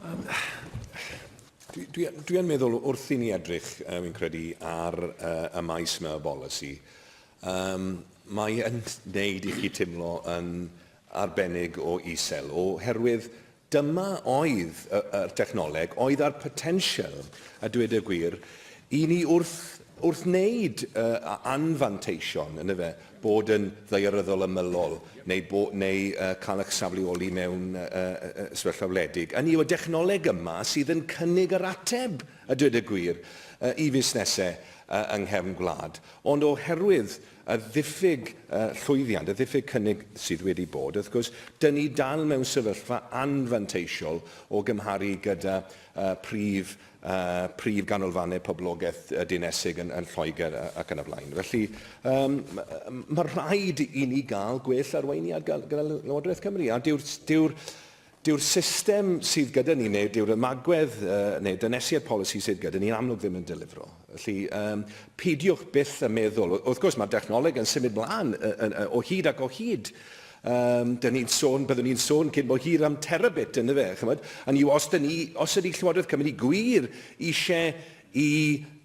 Um, dwi, dwi, dwi yn meddwl wrth i ni edrych, um, yn credu, ar uh, y maes yma o bolisi, um, mae yn neud i chi teimlo yn arbennig o isel, oherwydd dyma oedd y, y technoleg, oedd ar potensial, a dweud y gwir, i ni wrth, wrth wneud uh, anfanteision, yn y fe, bod yn ddaearyddol ymylol neu, bo, neu uh, cael eich safleoli mewn uh, uh, sefyllfa wledig. Yn yw'r dechnoleg yma sydd yn cynnig yr ateb, a dweud y gwir, uh, i fusnesau uh, yng nghefn gwlad. Ond oherwydd y ddiffyg uh, llwyddiant, y ddiffyg cynnig sydd wedi bod, wrth gwrs, dyn ni dal mewn sefyllfa anfanteisiol o gymharu gyda uh, prif y prif ganolfannau poblogaeth dinesig yn, yn Lloegr ac yn y blaen. Felly, um, mae rhaid i ni gael gwell arweiniad gyda Llywodraeth Cymru, a dyw'r dyw dyw'r system sydd gyda ni, neu dyw'r ymagwedd uh, neu dynesiad polisi sydd gyda ni, yn amlwg ddim yn delifro. Felly, yym, peidiwch byth â meddwl, wrth gwrs mae'r dechnoleg yn symud mlaen o hyd ac o hyd, Um, dyn ni'n sôn, byddwn ni'n sôn cyn bo hir am terabit, yn fe, chymod? Yn yw, os, ni, os ydy Llywodraeth Cymru gwir eisiau i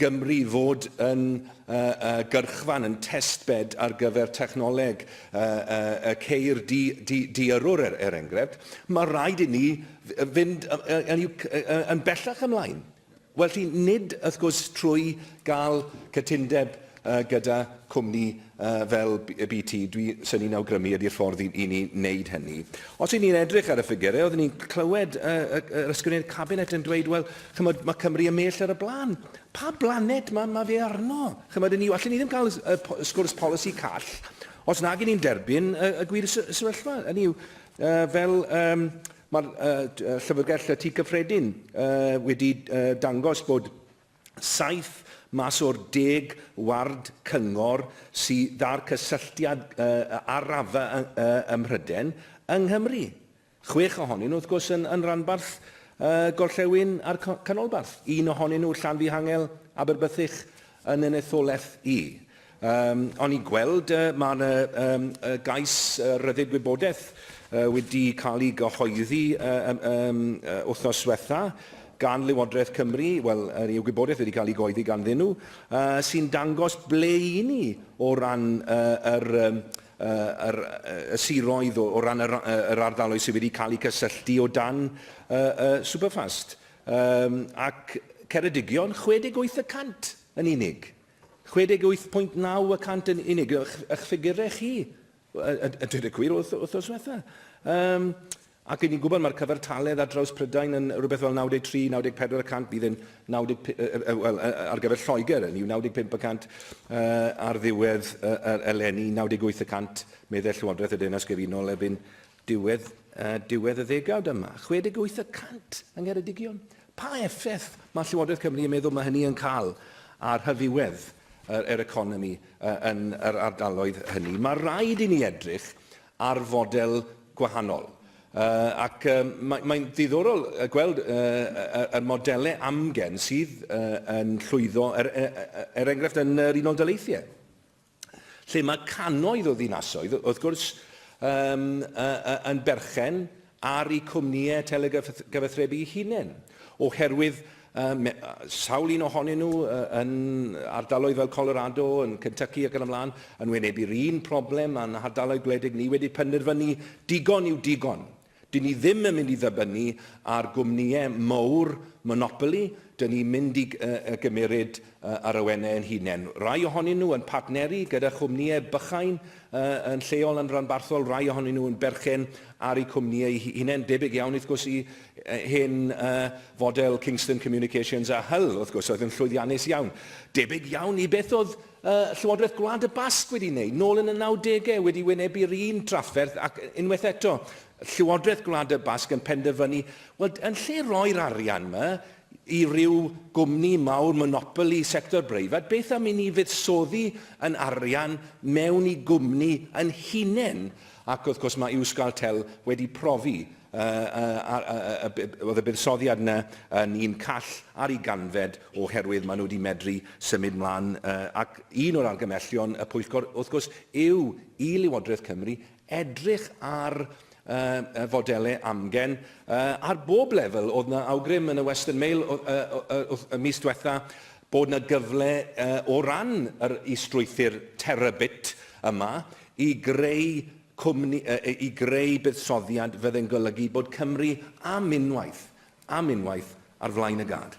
Gymru fod yn uh, uh, gyrchfan, yn testbed ar gyfer technoleg uh, uh, y ceir di, di, diarwr, er, er enghraifft, mae rhaid i ni fynd yn, yn, yn bellach ymlaen. Felly, nid, wrth gwrs, trwy gael cytundeb gyda chwmni fel BT, dwi, sy'n ni'n awgrymu, ydy'r ffordd i, i ni wneud hynny. Os y'n ni'n edrych ar y ffigurau, oeddwn ni'n clywed y, y, yr ysgrifennydd cabinet yn dweud, wel, chymod, mae Cymru yn mell ar y blaen. Pa blanet mae, mae fe arno? Chymod, ni, allen ni ddim cael y, y sgwrs polisi call os nag ni'n derbyn y, y gwir sefyllfa. Hynny yw, uh, fel... Um, Mae Llyfrgell y Tŷ Cyffredin wedi dangos bod saith mas o'r deg ward cyngor sydd â'r cysylltiad â'r rafa ym Mhrydain yng Nghymru. Chwech ohonyn nhw, wrth gwrs, yn rhanbarth gorllewin a'r canolbarth. Un ohonyn nhw, Llanfihangel, Aberbythych, yn yn etholaeth i. Yym, o'n i'n gweld yy ma' 'na yym yy gais yy rhyddid gwybodaeth yy wedi cael ei gyhoeddi yy yym yym yy wythnos ddiwetha' gan Lywodraeth Cymru, wel yr yw gwybodaeth wedi cael ei gyhoeddi ganddyn nhw, yy sy'n dangos ble 'yn ni o ran yy yr yym yy yr yy y siroedd o o ran yr yy yr ardaloedd sydd wedi cael eu cysylltu o dan yy yy Superfast. Yym, ac Ceredigion, 68 y cant yn unig. 68.9 y cant yn unig, ych, ych ffigurau chi, a, a dweud y gwir, wrth, wrth os fetha. Um, ac yn ni'n gwybod mae'r cyfartaledd ar draws Prydain yn rhywbeth fel 93-94 y cant, bydd yn 90, uh, uh, well, uh, ar gyfer Lloegr yn yw 95 y cant uh, ar ddiwedd uh, eleni, 98 y cant meddai Llywodraeth y Deyrnas Gyfunol erbyn Diwedd a diwedd y ddegawd yma, 68 y cant yng Ngheredigion. Pa effaith mae Llywodraeth Cymru yn meddwl mae hynny yn cael ar hyfywedd yr, yr economi yn yr ardaloedd hynny? Mae rhaid i ni edrych ar fodel gwahanol. Uh, ac uh, mae'n mae ddiddorol gweld uh, y modelau amgen sydd uh, yn llwyddo, er, er, er enghraifft yn yr Unol Daleithiau. lle mae cannoedd o ddinasoedd, wrth gwrs, um, uh, uh, yn berchen ar eu cwmnïau telegyfathrebu eu hunain, oherwydd um, sawl un ohonyn nhw uh, yn ardaloedd fel Colorado, yn Kentucky ac yn ymlaen, yn wynebu'r un problem a'n hardaloedd gwledig ni wedi penderfynu digon yw digon. Dŷn ni ddim yn mynd i ddibynnu ar gwmnïau mawr monopoli, dŷn ni'n mynd i gymmeryd yr awenau ein hunain. Rai ohonyn nhw yn partneru gyda chwmnïau bychain yn lleol yn ranbarthol, rai ohonyn nhw yn berchen ar eu cwmnïau eu hunain, debyg iawn wrth gwrs i hen fodel Kingston Communications a Hull wrth gwrs oedd yn llwyddiannus iawn. Debyg iawn i beth oedd Y Llywodraeth Gwlad y Basg wedi wneud, nôl yn y nawdegau, wedi wynebu'r un drafferth ac unwaith eto, Llywodraeth Gwlad y Basg yn penderfynu, wel, yn lle roi'r arian yma i ryw gwmni mawr, monopoli sector breifat, beth am i ni fuddsoddi yn arian mewn i gwmni yn hunain? Ac wrth gwrs, mae Euskaltel wedi profi Oedd y buddsoddiad yna yn un call ar ei ganfed oherwydd maen nhw wedi medru symud mlaen ac un o'r argymellion y pwyllgor wrth gwrs yw i Lywodraeth Cymru edrych ar y fodelau amgen ar bob lefel. Oedd yna awgrym yn y Western Mail y mis diwetha bod yna gyfle o ran yr is-strwythur terabit yma i greu cwmni i greu buddsoddiad fydd yn golygu bod Cymru am unwaith, am unwaith, ar flaen y gad.